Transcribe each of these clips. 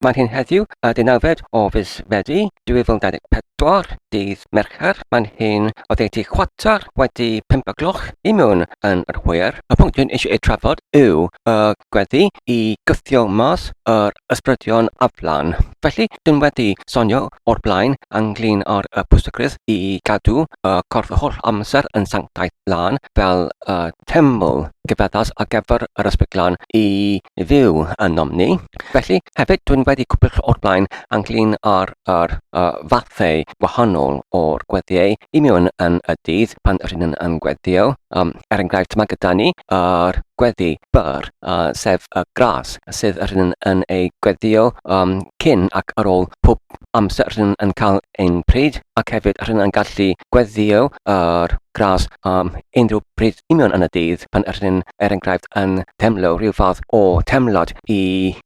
Mae'n hyn heddiw, y deunawfed o fis Fedi 2024, dydd Mercher. Mae'n hyn oddeutu chwarter wedi pump o gloch i mewn yn yr hwyr. Y pwnc dwi'n eisiau ei trafod yw y gweddi i gythio mas yr ysbrydion aflan. Felly, dwi'n wedi sonio o'r blaen ynglyn ar y pwysigrwydd i gadw y corff y holl amser yn sanctaidd lân fel y teml gyfeddas ar gyfer yr ysbryd glân i fyw ynom ni. Felly, hefyd, dwi'n wedi cwpl o'r blaen ynglyn â'r yr, uh, fathau gwahanol o'r gweddiau i mewn yn y dydd pan rydyn yn, yn gweddio. Um, er enghraifft, mae gyda ni yr gweddi byr, uh, sef y gras, sydd rydyn yn ei gweddio um, cyn ac ar ôl pob amser rydyn yn cael un pryd ac hefyd rydyn ni'n gallu gweddïo ar grass am unrhyw bryd union yn y dydd pan rydyn ni'n er enghraifft yn teimlo rhyw fath o teimlad i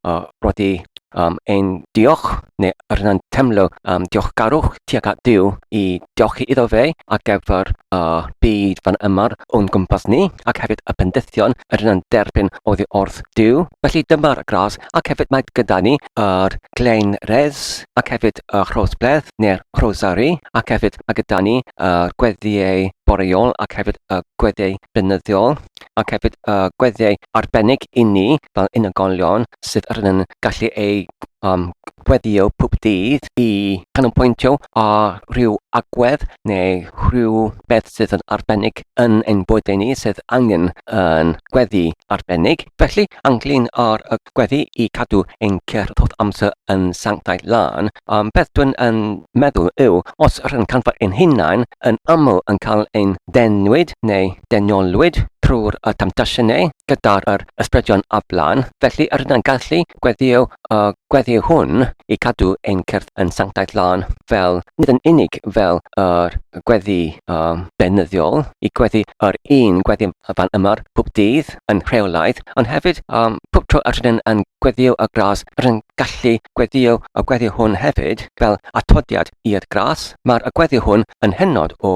uh, rodi um, ein diolch neu rydyn ni'n teimlo um, diolchgarwch tuag at Dyw i diolchi iddo fe ac efo'r uh, byd fan yma'r o'n gwmpas ni ac hefyd y pendithion rydyn ni'n derbyn oddi wrth Dyw. Felly dyma'r gras ac hefyd mae gyda ni yr Glein Rhes ac hefyd y Rhosbledd neu'r Rhosari ac hefyd mae gyda ni y gweddiau boreol ac hefyd y gweddiau blynyddiol ac hefyd y gweddiau arbennig i ni fel unigolion sydd yr yn gallu ei um, gweddio pob dydd i canolbwyntio ar rhyw agwedd neu rhyw beth sydd yn arbennig yn ein bywydau ni sydd angen yn gweddi arbennig. Felly, ynglŷn â'r gweddi i gadw ein cerdd holl amser yn sanctaidd lân, a'r peth dwi'n yn meddwl yw, os r'yn canfod ein hunain yn aml yn cael ein denwyd neu deniolwyd trwy'r y temtasiynau gyda'r yr ysbrydion a blaen, felly yr ydyn gallu gweddio y gweddi hwn i cadw ein cerdd yn sanctaidd lân fel, nid yn unig fel yr gweddi y beunyddiol, i gweddi yr un gweddi fan ymar pob dydd, yn rheolaidd, ond hefyd um, pob tro yr ydyn yn gweddio y gras, rydyn gallu gweddio y gweddio hwn hefyd fel atodiad i'r gras. Mae'r y gweddio hwn yn hynod o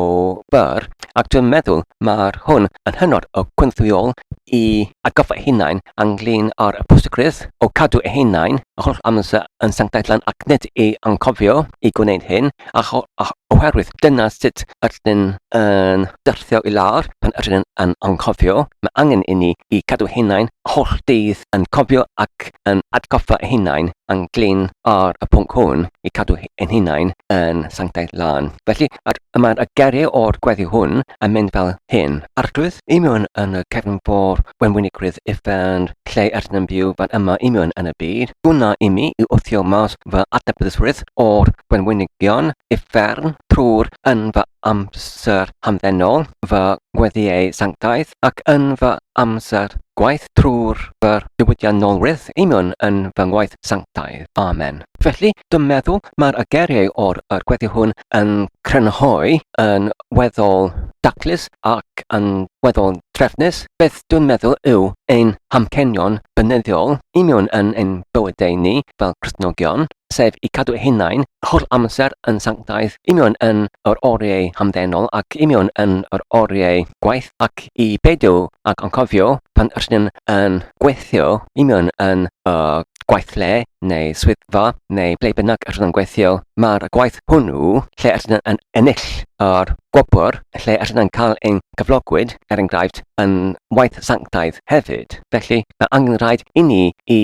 bur, ac dwi'n meddwl mae'r hwn yn hynod o gwynthwyol i atgoffa hunain anglyn ar y pwysigrwydd o cadw eu hunain yr holl amser yn sanctaetlan ac nid i anghofio i gwneud hyn, Oherwydd dyna sut ydyn yn syrthio i lawr pan ydyn yn anghofio, mae angen inni i gadw hunain holl dydd yn cofio ac yn atgoffa ei hunain yn glin ar y pwnc hwn i cadw ein hunain yn sanctaidd lân. Felly, mae'r mae y geriau o'r gweddi hwn yn mynd fel hyn. Arglwydd, i mewn yn y cefn fôr wenwynigrwydd uffern, lle rydyn yn byw fan yma union yn y byd, gwna imi i wthio mas fy adnabyddusrwydd o'r gwenwynigion uffern trwr yn fy amser hamddenol, fy ngweddiau sanctaidd, ac yn fy amser gwaith trwr fy diwydiannolrwydd union yn fy ngwaith sanctaidd. Amen. Felly, dwi'n meddwl mae'r ageriau o'r yr gweddi hwn yn crynhoi yn weddol daclus ac yn weddol drefnus beth dwi'n meddwl yw ein hamcenion beunyddiol i mewn yn ein bywydau ni fel Cristnogion, sef i cadw hunain holl amser yn sanctaidd i mewn yn yr oriau hamddenol ac i mewn yn yr oriau gwaith ac i beidio ac anghofio pan rydyn yn gweithio i mewn yn y gweithle neu swyddfa neu ble bynnag rydyn yn gweithio, mae'r gwaith hwnnw lle rydyn yn ennill yr gwobr, lle rydyn yn cael ein cyflogwyd, er enghraifft, yn waith sanctaidd hefyd. Felly, mae angen rhaid i ni i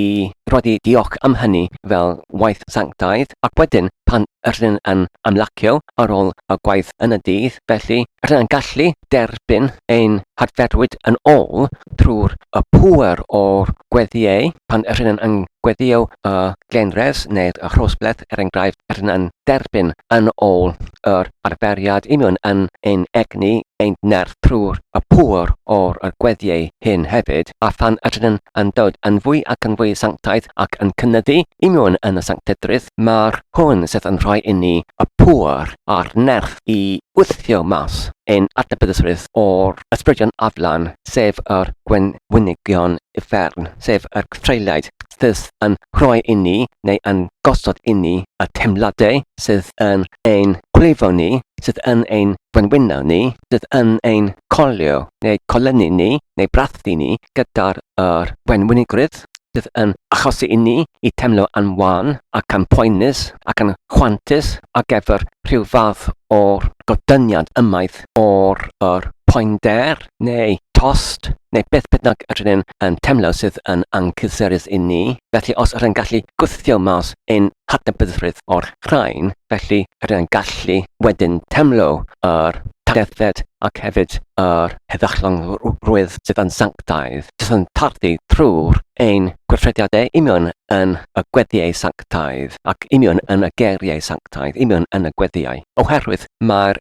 roi diolch am hynny fel waith sanctaidd, ac wedyn pan rydyn yn ymlacio ar ôl y gwaith yn y dydd, felly rydyn yn gallu derbyn ein hadferwyd yn ôl drwy'r y pŵer o'r gweddiau pan rydyn yn gweddio y Genres neu rhosbeth er enghraifft yr yn derbyn yn ôl yr arferiad union yn ein egni ein nerth trwy'r y pŵer o'r y gweddiau hyn hefyd a phan yr yn yn dod yn fwy ac yn fwy sanctaidd ac yn cynyddu union yn y sanctedrwydd mae'r hwn sydd yn rhoi inni y pŵer a'r nerth i wthio mas ein adnabyddusrwydd o'r ysbrydion aflan sef yr gwenwynigion uffern sef yr gthreillaid fydd yn rhoi inni neu yn gosod inni y teimladau sydd yn ein gwlifo ni, sydd yn ein gwenwyno ni, sydd yn ein colio neu colynu ni neu brathu ni gyda'r yr wenwynigrwydd sydd yn achosi inni i teimlo yn wan ac yn poenus ac yn chwantus ar gyfer rhyw fath o'r godyniad ymaith o'r yr poender neu tost, neu beth bynnag yr ydyn yn teimlo sydd yn anghysurus i ni, felly os ydyn gallu gwthio mas ein hadnabyddrwydd o'r rhain, felly ydyn gallu wedyn teimlo yr targeddiad ac hefyd yr heddychlonrwydd sydd yn sanctaidd, sydd yn tardu trwy'r ein gweithrediadau union yn y gweddiau sanctaidd, ac union yn y geiriau sanctaidd, union yn y gweddiau, oherwydd mae'r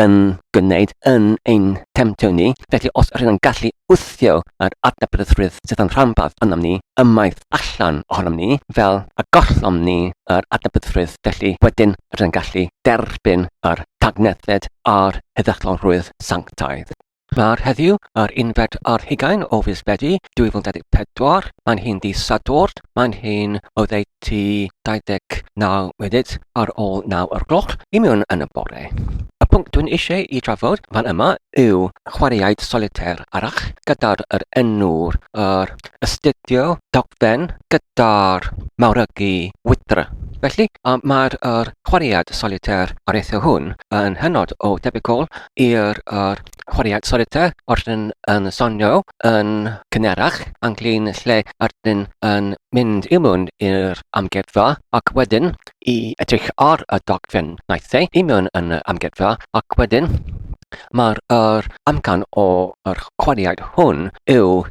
yn gwneud yn ein temtio ni, felly os rydyn ni'n gallu wthio yr adnabyddusrwydd sydd yn rhanbarth ynom ni ymaith allan ohonom ni, fel y gollom ni yr adnabyddusrwydd, felly wedyn rydyn ni'n gallu derbyn yr tagnethid a'r heddychlonrwydd sanctaidd. Mawrth heddiw, yr unfed ar hugain o fis Medi 2024. Mae'n hi'n ddydd Sadwrn, mae'n hi'n oddeutu 29 munud ar ôl 9 o'r gloch i mewn yn y bore. Y pwnc dwi'n eisiau i drafod fan yma yw chwaraeaid solitaire arall gyda'r yr enw'r yr astudio dogfen gyda'r mawrygu wydr. Felly, mae'r yr chwaraead solitaire areithio hwn yn hynod o debygol i'r yr chwaraeon sori te os yn yn sonio yn cynharach ynglyn lle ydyn yn mynd i mewn i'r amgueddfa ac wedyn i edrych ar y dogfen naill ai i mewn yn y amgueddfa ac wedyn mae'r yr amcan o yr chwaraeon hwn yw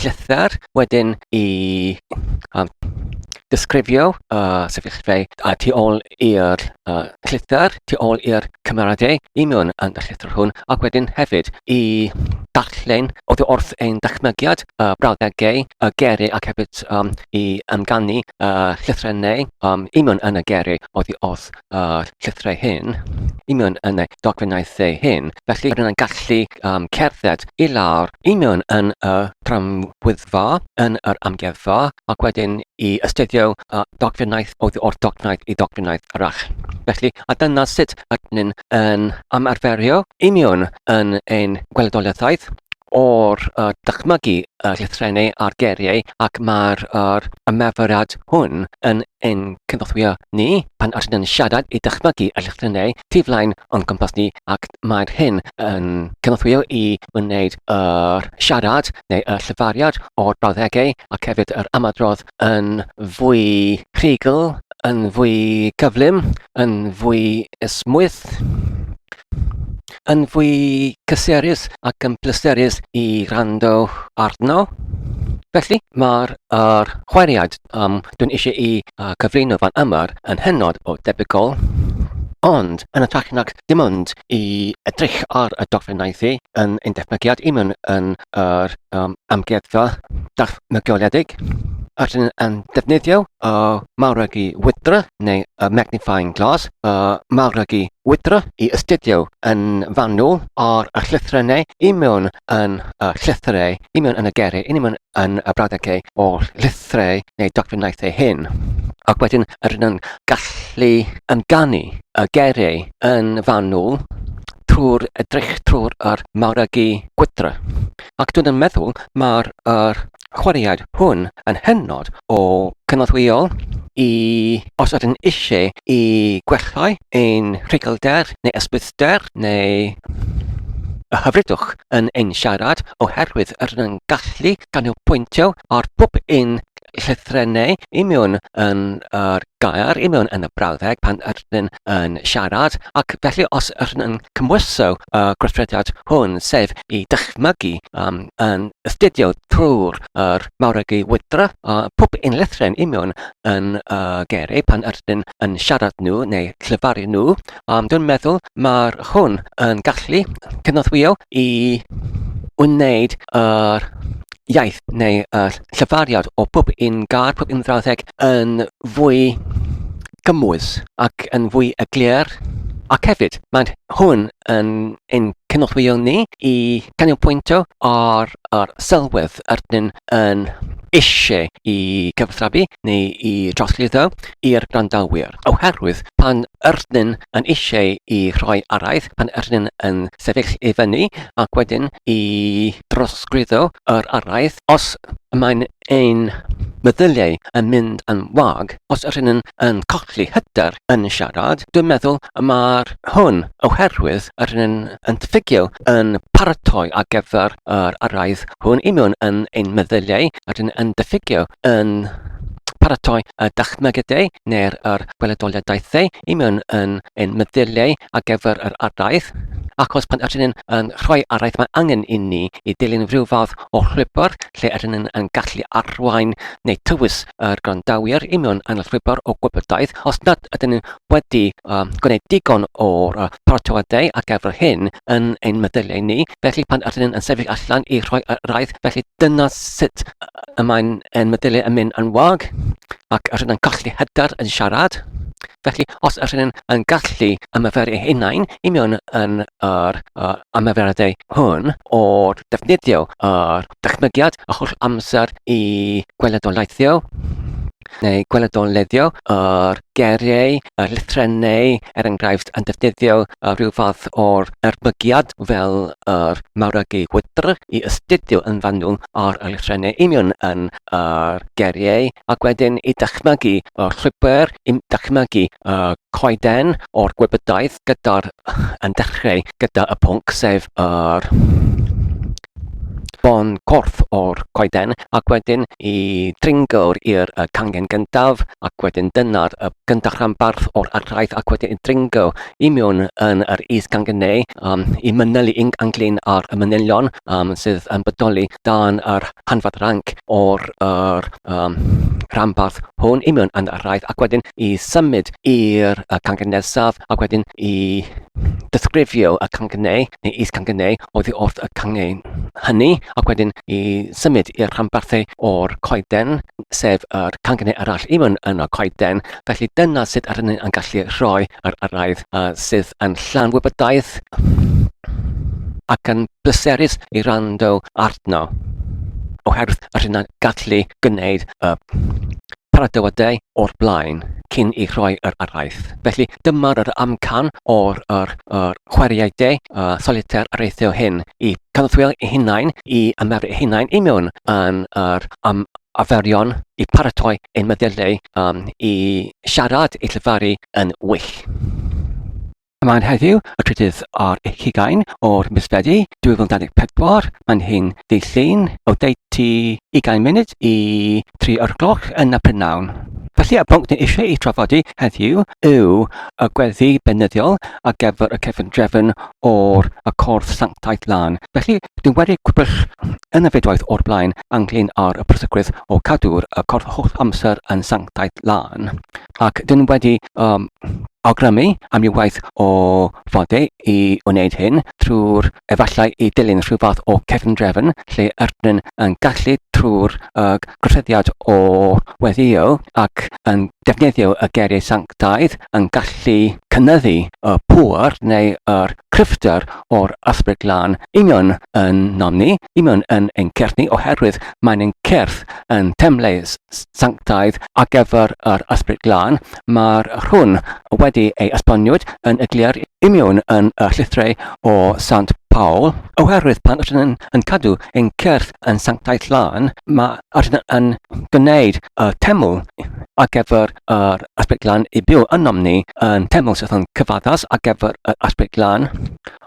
llythyr wedyn i um, disgrifio uh, sefyllfa a tu ôl i'r uh, llythyr, tu ôl i'r cymeradau i mewn yn y llythyr hwn, ac wedyn hefyd i darllen oedd wrth ein dychmygiad uh, brawddegau y geri ac hefyd um, i amganu uh, llythrennau um, i mewn yn y geri oedd wrth y llythyrau hyn i mewn yn y dogfennau lle hyn, felly rydyn yn gallu um, cerdded i lawr i mewn yn y tramwyddfa, yn yr amgueddfa, ac wedyn i ystydio uh, dogfennaeth o o'r dogfennaeth i dogfennaeth arall. Felly, a dyna sut rydyn ni'n yn ymarferio i mewn yn ein gweledoliaethau o'r uh, dychmygu y llythrennau a'r geiriau ac mae'r yr ymarferiad hwn yn ein cynorthwyo ni pan ydyn yn siarad i dychmygu y llythrennau tu flaen o'n cwmpas ni ac mae'r hyn yn cynorthwyo i wneud yr siarad neu y llyfariad o'r brawddegau ac hefyd yr ymadrodd yn fwy rhugl, yn fwy cyflym, yn fwy esmwyth. yn fwy cysurus ac yn pleserus i rando arno. Felly, mae'r er chweriad um, dwi'n eisiau i uh, cyflwyno fan yma yn hynod o debygol, ond yn y trach nac dim ond i edrych ar y dogfennau thi yn ein defnygiad i mewn yn yr um, amgueddfa dachmygioledig, yr hyn yn defnyddio y uh, mawrygu wydra neu y uh, magnifying glass, y uh, mawrygu Wydra i astudio yn fanwl ar y llythrennau i mewn yn y llythyrau, i mewn yn y gerau, i mewn yn y brawddegau o llythyrau neu dogfennaethau hyn. Ac wedyn rydyn nhw'n gallu amdani y gerau yn fanwl trwy'r edrych trwy'r yr mawregi gwydra. Ac dwi'n yn meddwl mae'r er, chwaraeaid hwn yn hynod o gynorthwyol i os ydyn eisiau i gwellhau ein rhuglder neu ysbryder neu y hyfrydwch yn ein siarad oherwydd yr yn gallu canolbwyntio ar bob un llythrennau i mewn yn yr gair, i mewn yn y brawddeg pan yr rydyn yn siarad, ac felly os rydyn yn cymhwyso y uh, gweithrediad hwn, sef i dychmygu um, yn astudio trwy'r er mawregi wydra, uh, pob un llethren union yn uh, geru pan rydyn yn siarad nhw neu llyfaru nhw, um, dwi'n meddwl mae'r hwn yn gallu cynorthwyo i wneud yr uh, iaith neu uh, llyfariad o bob un gair, pob un frawddeg yn fwy gymwys ac yn fwy eglur, ac hefyd mae hwn yn ein cynorthwyo ni i ganolbwyntio ar yr sylwedd rydyn yn eisiau i gyfathrebu neu i drosglwyddo i'r gwrandawyr, oherwydd pan rydyn yn eisiau i rhoi araith, pan rydyn yn sefyll i fyny ac wedyn i drosglwyddo yr araith, os mae'n ein meddyliau yn mynd yn wag, os ydyn nhw'n yn colli hyder yn siarad, dwi'n meddwl mae'r hwn oherwydd ydyn nhw'n yn ffugio yn paratoi ar gyfer yr araith hwn i mewn yn ein meddyliau, ydyn nhw'n yn diffygio yn paratoi y dychmygydau neu'r yr gweledoliadaethau i mewn yn ein meddyliau ar gyfer yr araith, achos pan ydyn nhw'n yn rhoi araith mae angen i ni i dilyn rhyw fath o llwybr lle yr ydyn yn gallu arwain neu tywys yr gwrandawyr i mewn anwybr o gwybodaeth os nad ydyn wedi uh, gwneud digon o'r uh, paratoadau ar gyfer hyn yn ein meddyliau ni, felly pan ydyn yn sefyll allan i rhoi yr raith, felly dyna sut y mae'n ein meddyliau yn mynd yn wag ac ydyn yn colli hyder yn siarad. Felly, os ydyn nhw'n yn gallu ymarfer eu hunain i mewn yn yr uh, ymarferadau hwn o ddefnyddio yr dychmygiad a holl amser i gweledolaethio neu gweledoleddio yr geriau, y llythrennau, er enghraifft, yn defnyddio rhyw fath o'r erbygiad fel yr mawragu gwydr i ystudio yn fanwl ar y llythrennau union yn yr geriau ac wedyn i dychmygu y llwybr yn dychmygu y coeden o'r gwybodaeth gyda'r yn dechrau gyda y pwnc sef yr bon corff o'r coeden ac wedyn i dringawr i'r cangen gyntaf ac wedyn dyna'r y gyntaf rhanbarth o'r archaeth ac wedyn i dringo i mewn yn yr is cangen neu um, i mynylu yn anglyn ar y manylion yym, sydd yn bodoli dan yr hanfod ranc o'r yr, um, rhanbarth hwn i mewn yn araith ac wedyn i symud i'r uh, cangen nesaf ac wedyn i disgrifio y cangenau neu is cangenau oddi wrth y cangen hynny ac wedyn i symud i'r rhanbarthau o'r coeden sef yr cangenau arall i mewn yn y coeden felly dyna sut yr hynny yn gallu rhoi ar araith a sydd yn llawn wybodaeth ac yn bleserus i rando arno oherwydd yr hyn a'n gallu gwneud y paradywydau o'r blaen cyn i rhoi yr araith. Felly dyma'r yr amcan o'r, yr, yr chwaraeau de a solitaire areithio hyn i cadw'r eu hunain i ymarfer eu hunain i mewn yn yr um, arferion i paratoi ein meddyliau um, i siarad, i llefaru yn well. Mae'n heddiw y trydydd ar eich hugain o'r mis Fedi 2024. Mae'n hyn ddydd Llun o deutu 20 munud i tri o'r gloch yn y prynhawn. Felly y pwnc ni eisiau ei trafodi heddiw yw y gweddi benyddiol ar gyfer y cefn drefn o'r y cordd sanctaidd lan. Felly dwi'n wedi gwybrych yn y fedwaith o'r blaen anglyn ar y prosygwydd o cadw'r y cordd holl amser yn sanctaidd lan. Ac dyn wedi um, awgrymu am ryw waith o fodau i wneud hyn trwy'r efallai i dilyn rhyw fath o cefndrefn lle ydyn yn gallu trwy'r uh, gosodiad o weddio ac yn defnyddio y geiriau sanctaidd yn gallu cynyddu y pŵer neu yr cryfder o'r ysbryd lan i mewn yn nom ni, i mewn yn ein certh ni, oherwydd mae'n ein certh yn temlau sanctaidd ar gyfer yr ysbryd lan, Mae'r rhwn wedi ei esboniwyd yn egliar i miwn yn y llithrau o Sant Paul, oherwydd pan ydyn yn, yn cadw ein cyrth yn sanctaeth lân, mae ydyn yn gwneud y teml ar gyfer yr aspect lan i byw ynom ni yn teml sydd yn cyfaddas ar gyfer yr aspect lan.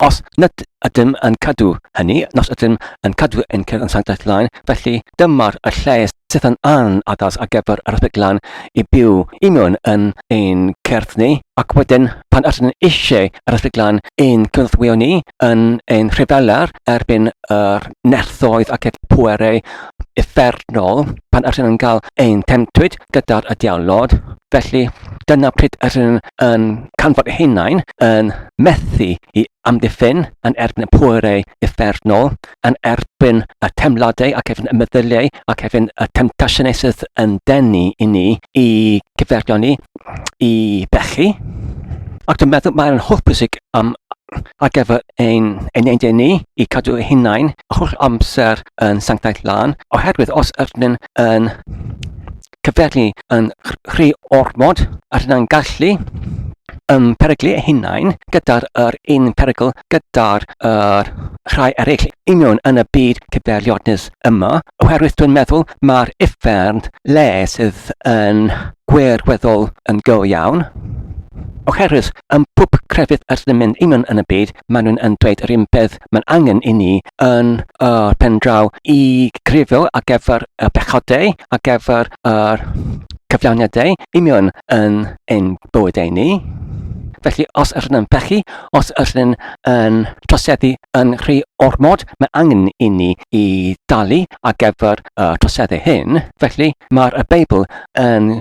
Os nad ydym yn cadw hynny, nos ydym yn cadw ein cyrth yn sanctaeth lan, Felly, dyma'r y lle sydd yn an addas ar gyfer yr erthyglau i byw i mewn yn ein cerdd ni, ac wedyn pan ydyn ni eisiau yr erthyglau i'n cynorthwyo ni yn ein rhyfelau erbyn yr nerthoedd ac e'r pwerau effernol pan ydyn nhw'n cael ein temtwyd gyda'r y diawlod. Felly, dyna pryd ydyn yn canfod hunain yn methu i amddiffyn yn erbyn y pwerau effernol. yn erbyn y teimladau ac erbyn y meddyliau ac erbyn y temptasiynau sydd yn denu i ni i gyferio ni, i bechu. Ac dwi'n meddwl mae'n holl bwysig am ar gyfer ein, ein ein ni i cadw ei hunain holl amser yn sanctaidd lan, oherwydd os ydyn yn cyfeirnu yn rhy ormod at na'n gallu yn peryglu ei hunain gyda'r yr un perygl gyda'r yr rhai eraill i mewn yn y byd cyfeiriadus yma, oherwydd dwi'n meddwl mae'r uffern le sydd yn gwirweddol yn go iawn, oherwydd yn pob crefydd ydyn ni'n mynd i mewn yn y byd, maen nhw'n yn dweud yr un peth mae'n angen i ni yn y pen draw i grifio ar gyfer y pechodau, ar gyfer yr cyflawniadau union yn ein bywydau ni. Felly, os ydyn yn pechu, os ydyn yn troseddu yn rhy ormod, mae angen i ni i dalu ar gyfer y troseddu hyn. Felly, mae'r Beibl yn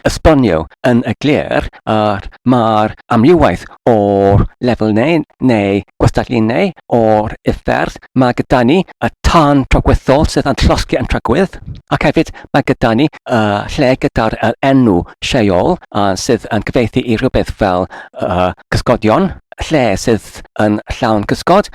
esbonio yn y glir a'r mae'r amliwaith o'r lefel neu, neu gwestalinnau o'r uffern. Mae gyda ni y tân tragwyddol sydd yn llosgi yn tragwydd, ac hefyd mae gyda ni y lle gyda'r er enw Sheol uh, sydd yn cyfeithi i rhywbeth fel uh, cysgodion, lle sydd yn llawn cysgod,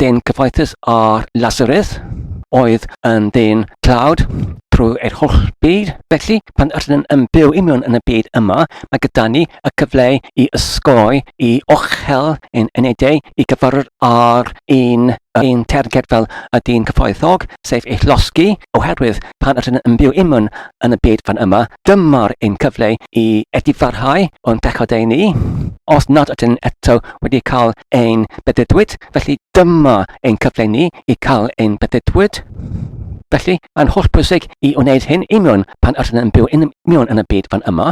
dyn cyfoethus ar Lazarus, oedd yn dyn tlawd trwy eich holl byd. Felly, pan ydyn yn byw i mewn yn y byd yma, mae gyda ni y cyfle i ysgoi, i ochel yn enedau, i gyfarfod ar un, un terged fel y dyn cyfoethog, sef eich losgi, oherwydd pan ydyn yn byw i mewn yn y byd fan yma. Dyma'r un cyfle i edifarhau o'n pechod ein ni, os nad ydyn eto wedi cael ein beddydwyd, felly dyma ein cyfle ni i cael ein beddydwyd. Felly, mae'n holl bwysig i wneud hyn i miwn pan ydyn yn byw yn miwn yn y byd fan yma,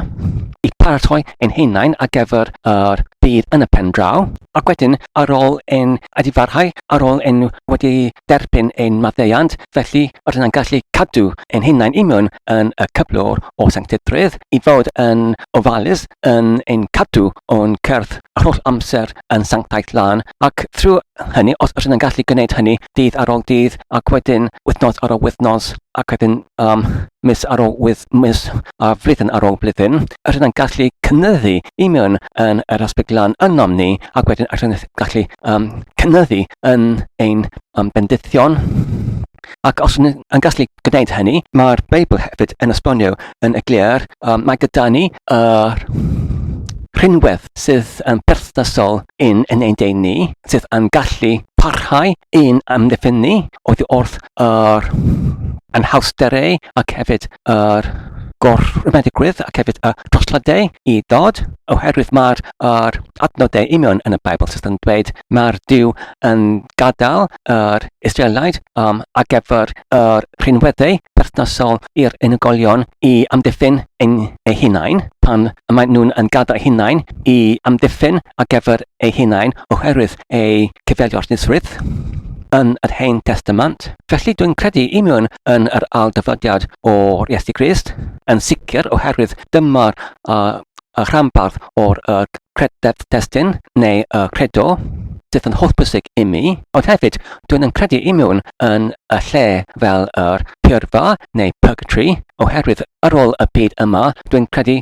i paratoi ein hunain ar gyfer yr bydd yn y pen draw, ac wedyn ar ôl ein edifarhau, ar ôl ein wedi derbyn ein maddeuant, Felly, rydyn yn gallu cadw ein hunain imiwn yn y cyflwr o sancteiddrwydd, i fod yn ofalus yn ein cadw o'n cyrff yr holl amser yn sanctaidd lân, ac trwy hynny, os rydyn yn gallu gwneud hynny dydd ar ol dydd, ac wedyn wythnos ar ol wythnos, ac wedyn um, mis ar ol wyth, mis a flwyddyn ar ol blwyddyn, rydyn yn gallu cynyddu imiwn yn yr aspect lân ynom ni, ac wedyn rydyn yn gallu um, cynyddu yn ein um, bendithion. Ac os yn, yn gallu gwneud hynny, mae'r Beibl hefyd yn esbonio yn y glir, um, mae gyda ni yr uh, rhinwedd sydd yn perthnasol yn yn ein dein ni, sydd yn gallu parhau yn amddiffyn ni oddi wrth yr anhawsterau ac hefyd yr uh, gorfrymedigrwydd ac hefyd y trosladau i ddod, oherwydd mae'r yr adnodau union yn y Beibl sydd yn dweud mae'r Dyw yn gadael yr Israelid um, a gyfer yr rhinweddau perthnasol i'r unigolion i amddiffyn yn eu hunain pan mae nhw'n yn gadael eu hunain i amddiffyn a gyfer eu hunain oherwydd eu cyfeiliornusrwydd yn yr Hen Testament. Felly dwi'n credu union yn yr ail dyfodiad o'r Iesu Grist, yn sicr oherwydd dyma'r uh, y rhanbarth o'r y crededd destun neu y credo sydd yn hollbwysig i mi, ond hefyd dwi'n yn credu i mewn yn y lle fel yr pyrfa neu purgatory, oherwydd ar ôl y byd yma, dwi'n credu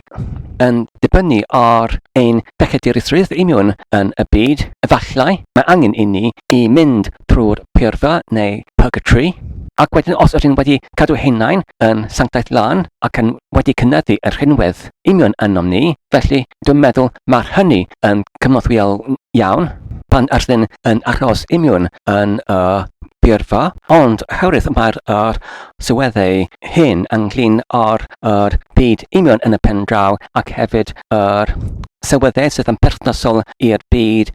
yn dibynnu ar ein pechedurusrwydd i mewn yn y byd, efallai mae angen i ni i mynd trwy'r pyrfa neu purgatory, ac wedyn os ydyn wedi cadw hunain yn sanctaeth lân ac yn wedi cynyddu yr rhinwedd, union ynom ni, felly dwi'n meddwl mae'r hynny yn cynorthwyol iawn pan ysdyn yn achos imiwn yn y byrfa, ond oherwydd mae'r yr sylweddau hyn ynglyn â'r yr byd union yn y pen draw ac hefyd yr sylweddau sydd yn perthnasol i'r byd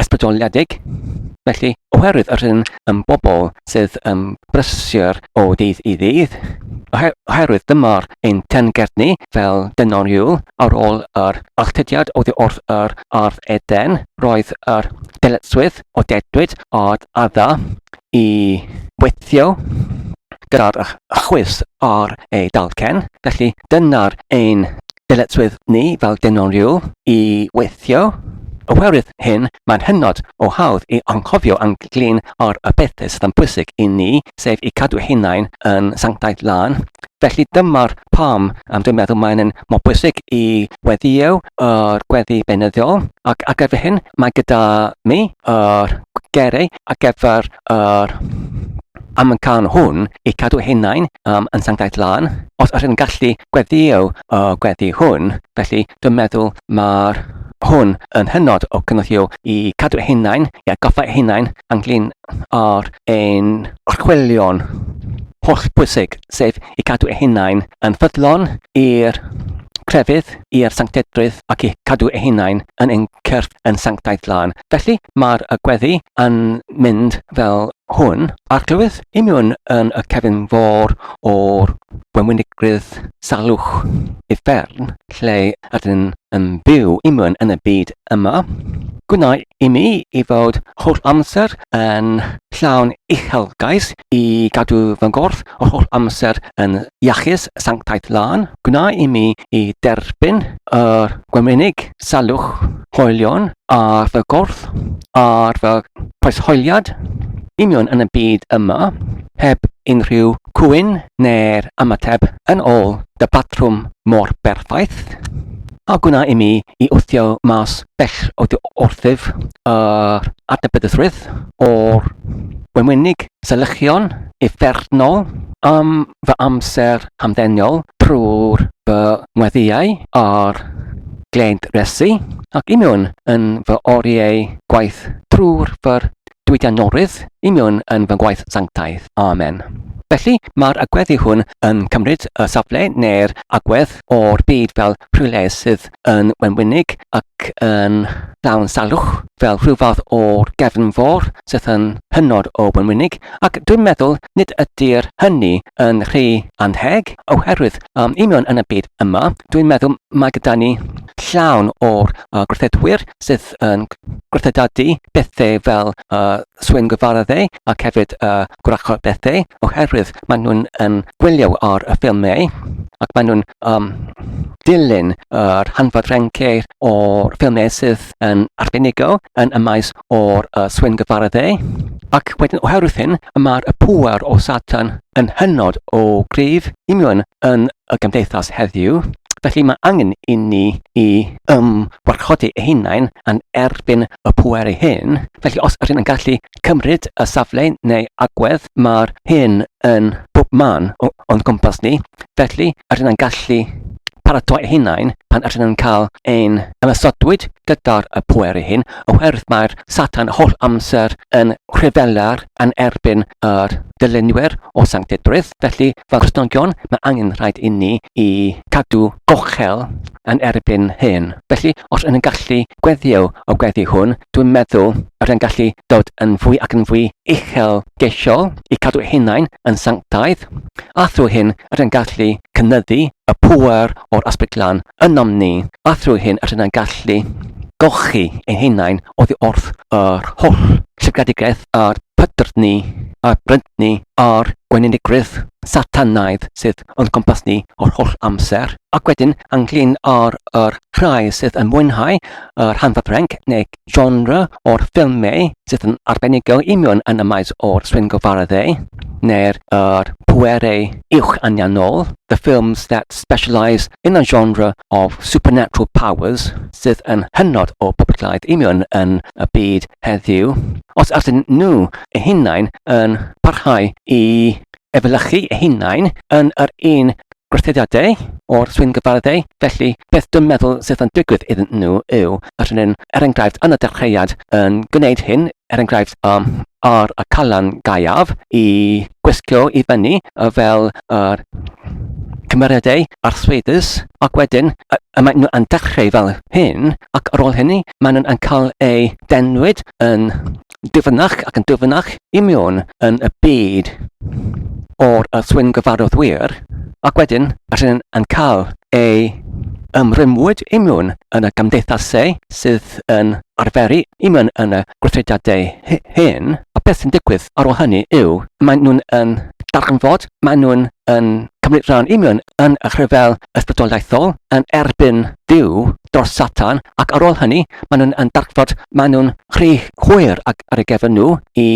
ysbrydoliedig. Felly, oherwydd yr hyn yn bobl sydd yn brysur o ddydd i ddydd, oherwydd dyma'r ein teyrnged ni fel dynon Iul ar ôl yr alltudiad oddi wrth yr ardd Eden, roedd yr dyletswydd o dedwyd ar adda i weithio gyda'r chwys ar ei dalcen, felly dyna'r ein dyletswydd ni fel dynon Iul, i weithio. Oherwydd hyn, mae'n hynod o hawdd i anghofio yn glin ar y pethau sydd yn bwysig i ni, sef i cadw hunain yn sanctaidd lân. Felly dyma'r pam um, dwi'n meddwl mae'n yn mor bwysig i weddio yr gweddi beunyddiol ac ar gyfer hyn mae gyda mi yr gerau ar gyfer yr am yn cael hwn i cadw hunain um, yn sanctaidd lân. Os ydych yn gallu gweddio y uh, gweddi hwn, felly dwi'n meddwl mae'r hwn yn hynod o cynnychiol i cadw eich hunain, i atgoffa eich hunain ynglyn â'r ein archwilion holl bwysig, sef i cadw eich hunain yn ffyddlon i'r crefydd i'r sanctedrwydd ac i cadw ei hunain yn ein cyrff yn sanctaidd lân. Felly mae'r y gweddi yn mynd fel hwn. Arglwydd, imiwn yn y cefn fôr o'r gwenwynigrwydd salwch i fferm, lle ydyn yn byw i mewn yn y byd yma, gwnaed i mi i fod holl amser yn llawn uchelgais i gadw fy ngorff yr holl amser yn iachus, sanctaidd lân, gwnaed i mi i derbyn yr gwemenig salwch hoelion ar fy gorff, ar fy Oes hoeliad union yn y byd yma heb unrhyw cwyn neu'r ymateb yn ôl dy batrwm mor berffaith? A gwna i mi i wthio mas bell o dy wrthyf yr adnabyddusrwydd o'r wenwynig selychion uffernol am fy amser hamddenol trwy'r fy ngweddïau ar gled Resu ac union yn fy oriau gwaith trwy'r fy diwydiannolrwydd i mewn yn fy ngwaith sanctaidd. Amen. Felly, mae'r agweddi hwn yn cymryd y safle neu'r agwedd o'r byd fel rhywle sydd yn wenwynig ac yn llawn salwch, fel rhyw fath o'r gefn fôr sydd yn hynod o wenwynig, ac dwi'n meddwl nid ydy'r hynny yn rhy annheg, oherwydd um, i mewn yn y byd yma, dwi'n meddwl mae gyda ni llawn o'r uh, gwrthedwyr sydd bod yn gwrthdadu bethau fel uh, swyn gyfaradde ac hefyd uh, gwrachod bethau oherwydd maen nhw'n um, gwylio ar y ffilmau ac maen nhw'n um, dilyn yr uh, hanfod renceir o'r ffilmau sydd yn arbenigol yn y maes o'r uh, swyn gyfaradde ac wedyn oherwydd hyn y mae'r y pŵer o Satan yn hynod o grif union yn y gymdeithas heddiw, felly mae angen inni i ymwarchodi ei hunain yn erbyn y pŵer ei hun, felly os ydyn yn gallu cymryd y safle neu agwedd mae'r hyn yn bob man o'n gwmpas ni, felly ydyn yn gallu paratoi ei hunain pan ydyn yn cael ein ymysodwyd gyda'r y pŵer ei hun, oherwydd mae'r Satan holl amser yn rhyfela'r yn erbyn yr dylunwyr o sanctedrwydd, felly Fel Cristnogion, mae angen rhaid inni i gadw gochel yn erbyn hyn. Felly, os yn yn gallu gweddio o gweddi hwn, dwi'n meddwl yr yn gallu dod yn fwy ac yn fwy uchel geisiol i cadw hunain yn sanctaidd, a thrwy hyn yr yn gallu cynyddu y pŵer o'r Ysbryd Glân ynom ni, a thrwy hyn yr yn gallu golchi ein hunain oddi wrth yr holl llygredigaeth a'r pydrdd ni a'r brynt ni a'r gweinidgrwydd Satanaidd sydd o'n cwmpas ni o'r holl amser, ac wedyn ynglyn ar yr rhai sydd yn mwynhau yr hanfa ffrenc neu genre o'r ffilmau sydd yn arbenigol i mewn yn y maes o'r swyngofarddau neu'r er pwerau uwch anianol, the films that specialise in a genre of supernatural powers sydd yn hynod o boblogaidd i mewn yn y byd heddiw, os ydyn nhw eu hunain yn parhau i efelychu eu hunain yn yr un gweithrediadau o'r swyn gyfarddau, felly beth dwi'n meddwl sydd yn digwydd iddyn nhw yw y rhywun, er enghraifft, yn y dechreuad yn gwneud hyn, er enghraifft, um, ar y calan gaeaf i gwisgo i fyny fel yr cymeriadau arswydus, ac wedyn y, y maen nhw yn dechrau fel hyn, ac ar ôl hynny, maen nhw'n cael eu denwyd yn dyfynach ac yn dyfynach i mewn yn y byd o'r swyn gyfarwydd wir, ac wedyn rhywun yn cael ei ymrwymwyd i mewn yn y gymdeithasau sydd yn arferu i mewn yn y gweithrediadau hyn, a beth sy'n digwydd ar ôl hynny yw, maen nhw'n darganfod maen nhw'n yn cymryd rhan i mewn yn y rhyfel ysbrydoliaethol yn erbyn Dyw dros Satan ac ar ôl hynny maen nhw'n yn darfod, maen nhw'n rhy hwyr ac ar y gefn nhw i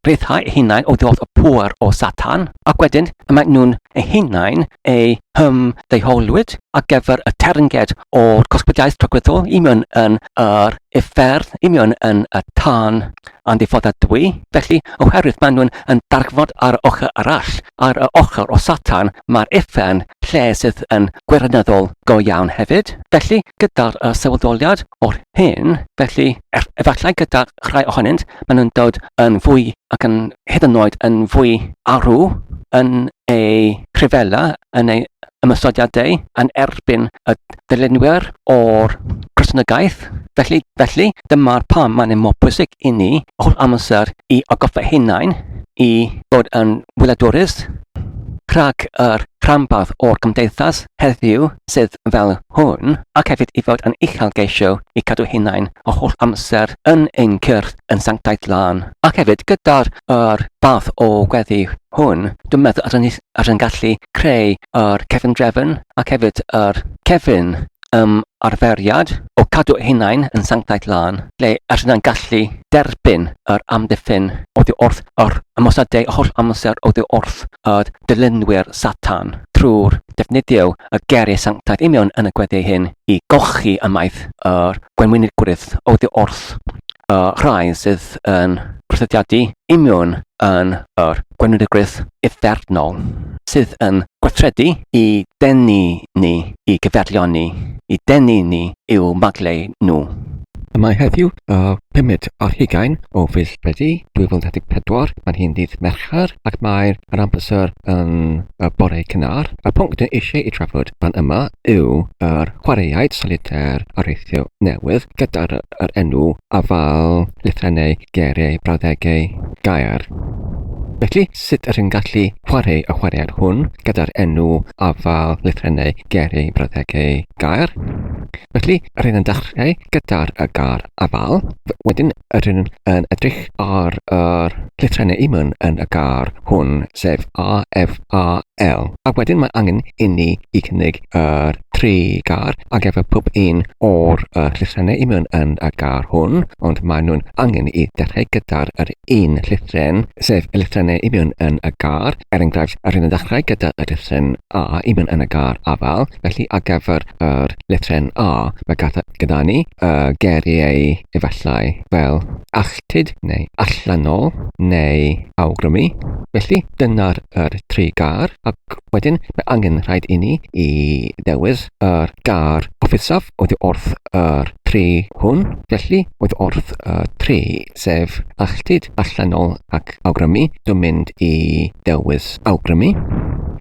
rhyddhau eu hunain o ddodd y pŵer o Satan ac wedyn y maen nhw'n eu hunain eu hym ddeiholwyd ar gyfer y ternged o'r cosbydiaeth tragwyddol i mewn yn yr efferth, i mewn yn y tân yn ddiffodadwy, felly, oherwydd maen nhw'n yn darfod ar yr ochr arall, ar yr ochr o Satan, mae'r uffern, lle sydd yn gwirioneddol go iawn hefyd. Felly, gyda'r uh, sefydoliad o'r hyn, felly, er, efallai gyda rhai ohonynt, maen nhw'n dod yn fwy ac yn hyd yn oed yn fwy arw yn ei rhyfela, yn ei ymysodiadau yn erbyn y dylunwyr o'r Gristnogaeth. Felly, felly, Dyma pam mae'n mor bwysig i ni holl amser i agoffa hunain i fod yn wyladwrus rhag yr rhanbarth o'r gymdeithas heddiw sydd fel hwn ac hefyd i fod yn uchel geisio i cadw hunain o holl amser yn ein cyrth yn sanctaidd lân. Ac hefyd gyda'r yr fath o gweddi hwn, dwi'n meddwl ar yn, ar yn gallu creu yr cefn drefn ac hefyd yr cefn ymarferiad o gadw eu hunain yn sanctaidd lân, lle yr ydyn gallu derbyn yr amddiffyn oddi wrth yr ymosodau holl amser oddi wrth y dilynwyr Satan, trwy'r defnyddio y geiriau sanctaidd union yn y gweddiau hyn i golchi ymaith yr gwenwynigrwydd oddi wrth y rhai sydd yn rhyddhadu union yn yr gwenwynigrwydd uffernol sydd yn gweithredu i denu ni, i gyfeillion ni, i denu ni i'w maglau nhw. Y mae heddiw y pumed ar hugain o fis Medi 2014, mae'n hi'n ddydd Mercher ac mae yr ambyser yn y bore cynnar. Y pwnc dyn eisiau ei trafod fan yma yw yr chwaraeaid solitaire areithio newydd gyda'r yr enw afal lythrennau geiriau brawddegau gair. Felly, sut ydych chi'n gallu chwarae y chwaraead hwn gyda'r enw afael lythrennau geiriau brawddegau gair? Felly, rydyn yn dechrau gyda'r y gair afael, wedyn rydyn yn edrych ar yr llythrennau imwn yn y gair hwn, sef A, F, A, L. A wedyn mae angen inni i cynnig yr tri gar ar gyfer pob un o'r uh, llythrenau i mewn yn y gar hwn, ond maen nhw'n angen i ddechrau gyda'r yr un llythren, sef y llythrennau i mewn yn y gar. Er enghraifft, yr hyn yn ddechrau gyda y llythren A i mewn yn y gar afal, felly ar gyfer yr llythren A, mae gyda, gyda ni y uh, geriau efallai fel alltud neu allanol neu awgrymu. Felly, dyna'r er tri gar, a Wedyn, mae angen rhaid i ni i ddewis yr gar offusaf oedd wrth yr tri hwn, felly oedd wrth y tri, sef alltud, allanol ac awgrymu. Dwi'n mynd i ddewis awgrymu.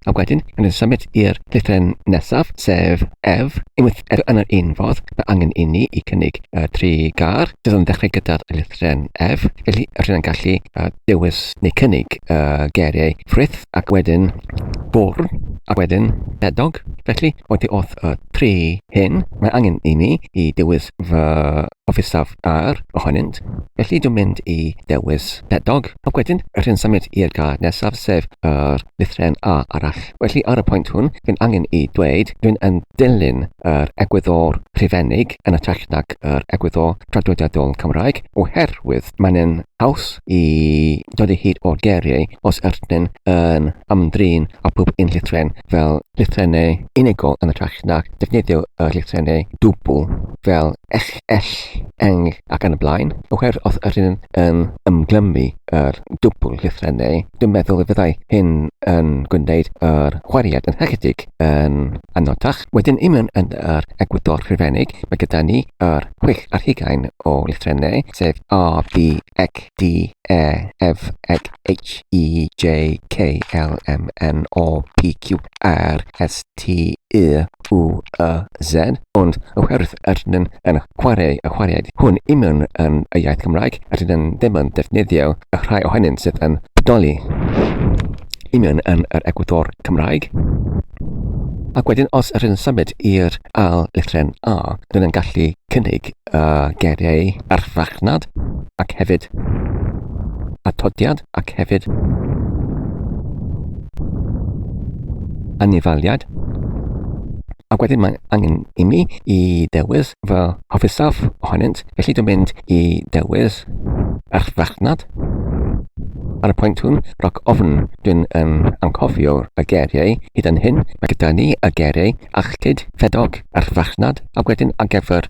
A wedyn, yn yn symud i'r llythren nesaf, sef ef, unwaith eto yn yr un fodd, mae angen i ni i cynnig y tri gar, sydd yn dechrau gyda'r llythren ef, felly rydyn yn gallu dewis neu cynnig y geiriau ffrith, ac wedyn bwrw, ac wedyn pedog. Felly, oddi wrth y tri hyn, mae angen i mi i dewis fy ofisaf ar ohonynt. Felly, dwi'n mynd i dewis pedog, ac wedyn rhyn symud i'r card nesaf, sef yr lythren A arall. Felly, ar y pwynt hwn, fi'n angen i dweud dwi'n yn dilyn yr egwyddor rhufeinig yn ytrach nag yr egwyddor tradwydiadol Cymraeg, oherwydd mae'n yn haws i dod i hyd o'r geiriau os ydyn yn ymdrin â phob un llythren fel llythrennau unigol yn hytrach na defnyddio y llythrennau dwbl fel ech, ell, eng ac yn y blaen, oherwydd os ydyn yn ymglymu yr dwbl llythrennau, dwi'n meddwl y fyddai hyn yn gwneud yr chwariad yn hychydig yn anodach. Wedyn i mewn yn yr egwyddor rhifennig, mae gyda ni yr chwech ar hugain o lythrennau, sef A, B, Ec, D, E, F, G, H, I, J, K, L, M, N, O, P, Q, R, S, T, U, U, Y, Z, ond oherwydd rydyn nhw'n yn chwarae y chwaraead hwn union yn y iaith Gymraeg, rydyn nhw'n ddim yn defnyddio y rhai ohonynt sydd yn bodoli union yn yr egwyddor Cymraeg. Ac wedyn, os rydyn nhw'n symud i'r ail lythryn A, rydyn nhw'n gallu cynnig uh, geiriau ar farchnad ac hefyd atodiad ac hefyd anifaliad. Ac wedyn mae angen i mi i dewis fy hofisaf ohonynt, felly dwi'n mynd i dewis ar farchnad. Ar y pwynt hwn, roc ofn, dwi'n um, anghofio y geiriau hyd yn hyn. Mae gyda ni y geiriau achlyd, ffedog, ar farchnad, ac wedyn ar gyfer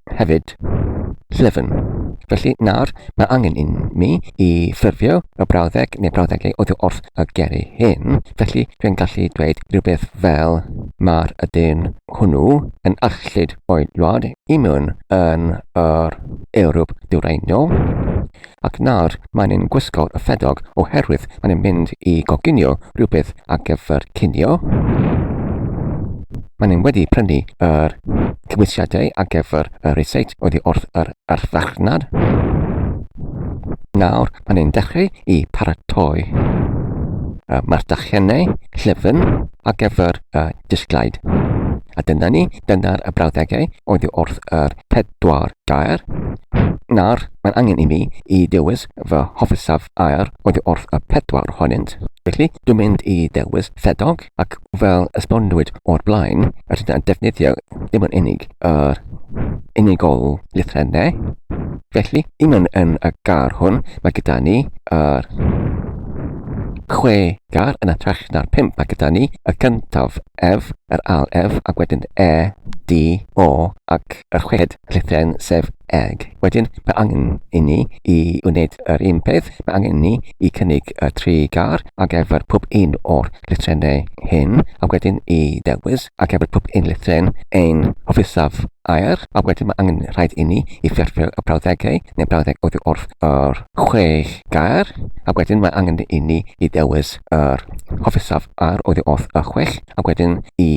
hefyd llyfn. Felly nawr mae angen i mi i ffurfio y brawddeg neu brawddegau oddi wrth y geri hyn, felly dwi'n gallu dweud rhywbeth fel mae'r ydyn hwnnw yn arllid o'i wlad i mewn yn yr Ewrop Dwyrainol. ac nawr maen nhw'n gwisgo y ffedog oherwydd maen nhw'n mynd i goginio rhywbeth ar gyfer cinio. Maen nhw'n wedi prynu yr cymwysiadau ar gyfer y resit oddi wrth yr arfarchnad. Nawr maen nhw'n dechrau i paratoi y mardachiennau llyfn ar gyfer y disglaid. A dyna ni, dyna'r y brawddegau oedd wrth yr ped dwar gair. Nawr, mae'n angen i mi i ddewis fy hofisaf air oddi wrth y pedwar ohonynt. Felly, dwi'n mynd i ddewis ffedog, ac fel esbonwyd o'r blaen, rydyn ni'n defnyddio ddim yn unig yr unigol lythrennau. Felly, i mewn yn y gair hwn, mae gyda ni yr chwe gair yn hytrach na'r pump. Mae gyda ni y cyntaf ef, yr al ef, ac wedyn e, d, o ac y chweched rhithau'n sef eg. Wedyn mae angen i ni i wneud yr un peth, mae angen i ni i cynnig y tri gar ar gyfer pob un o'r llythrennau hyn a wedyn i ddewis ar gyfer pob un llythren ein hofisaf air a wedyn mae angen rhaid i ni i ffurfio y brawddegau neu brawddeg oddi wrth yr chwech gair a wedyn mae angen i ni i ddewis yr hofisaf air oddi wrth y chwech ac wedyn i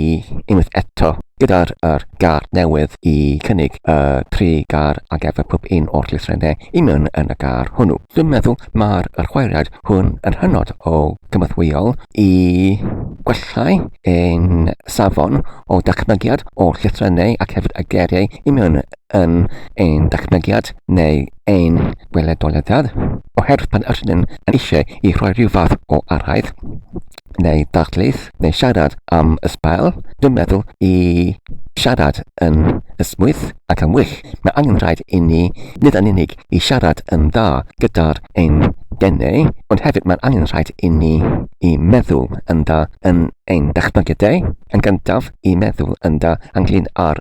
unwaith eto gyda'r er gar newydd i cynnig y tri gar a gefur pob un o'r llythrennau i mewn yn y gar hwnnw. Dwi'n meddwl mae'r yr chwaraead hwn yn hynod o gymathwyol i gwellhau ein safon o dachmygiad o'r llythrennau ac hefyd y geiriau i mewn yn ein dachmygiad neu ein gweledoliadau oherwydd pan ydyn yn eisiau i rhoi rhyw fath o araith neu darlith neu siarad am y sbael, dwi'n meddwl i siarad yn ysmwyth ac yn wyll, mae angen rhaid i ni nid yn unig i siarad yn dda gyda'r ein denau, ond hefyd mae'n angen rhaid i ni i meddwl yn dda yn ein dychmygydau, yn gyntaf i meddwl yn dda ynglyn â'r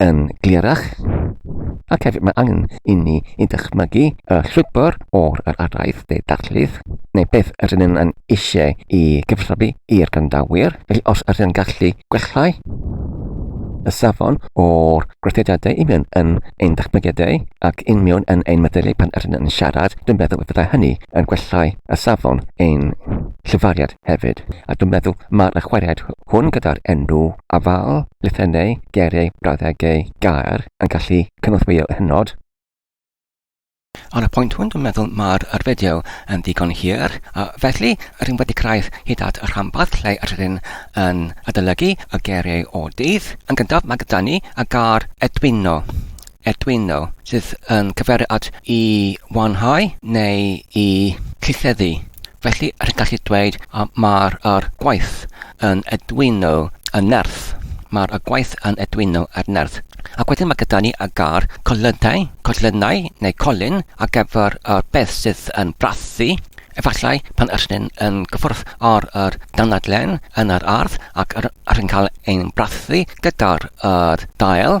yn glerach, ac hefyd mae angen inni i ddychmygu y llwybr o'r yr araith de darlith, neu beth yr yn yn eisiau i gyfrhafu i'r grandawyr, felly os yr yn gallu gwellhau y safon o'r gweithrediadau i mewn yn ein dychmygiadau ac yn mewn yn ein meddyliau pan yr yn yn siarad, dwi'n meddwl y byddai hynny yn gwellhau y safon ein llyfariad. hefyd, a dwi'n meddwl mae'r y chwaraead hwn gyda'r enw afal, lythennau, geiriau, brawddegau, gair yn gallu cynorthwyo hynod. Ar y pwynt hwn dwi'n meddwl mae'r yr fideo yn ddigon hir, a felly rydym wedi cyrraedd hyd at y rhanbarth lle rydym yn adolygu y geiriau o dydd. Yn gyntaf mae gyda ni y gair edwino. Arduino, sydd yn cyfeirio at i wanhau neu i llitheddu. Felly, rydych gallu dweud mae'r er gwaith yn Arduino yn nerth. Mae'r er gwaith yn Arduino er nerth. Ac wedyn mae gyda ni y gair colynau, colynau neu colyn ar gyfer y beth sydd yn brathu. Efallai pan ydych chi'n yn gyffwrdd ar yr danadlen yn yr ardd ac rydych chi'n cael ein brathu gyda'r dail,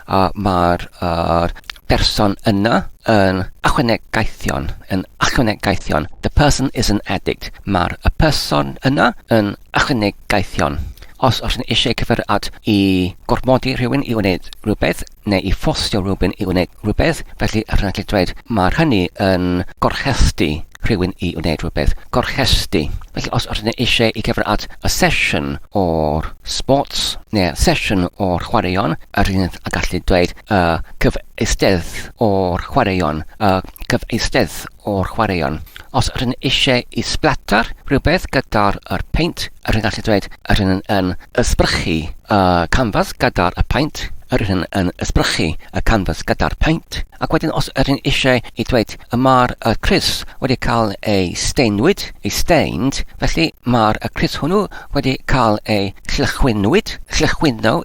a mae'r yr person yna yn achwanegaethion, yn achwanegaethion. The person is an addict. Mae'r y person yna yn achwanegaethion. Os oes yn eisiau cyfer at i gormodi rhywun i wneud rhywbeth, neu i ffosio rhywun i wneud rhywbeth, felly rhaid gallu dweud mae'r hynny yn gorchesty rhywun i wneud rhywbeth. Gorchesty. Felly os oes yn eisiau i cyfer at y sesiwn o'r sports, neu sesiwn o'r chwaraeon, Yr hyn a gallu dweud y cyfeistedd o'r chwaraeon, y cyfeistedd o'r chwaraeon. Os yr hyn eisiau i splatter rhywbeth gyda'r yr paint, yr hyn gallu dweud yr hyn yn ysbrychu y canfas gyda'r y paint, yr hyn yn ysbrychu y canfas gyda'r paint. Ac wedyn os yr hyn eisiau i dweud y mae'r y Chris wedi cael ei steinwyd, ei stained, felly mae'r y Chris hwnnw wedi cael ei llychwynwyd, llychwyno,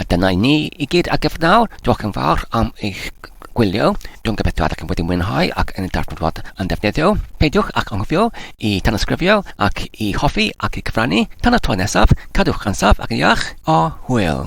A dyna i ni i gyd ar gyfer nawr. Diolch yn fawr am eich gwylio. Dwi'n gobeithio ydych chi wedi mwynhau ac yn y darganfod yn ddefnyddio. Peidiwch ac anghofio i tanysgrifio ac i hoffi ac i gyfrannu. Tan y tro nesaf, cadwch yn saff ac yn iach, a hwyl!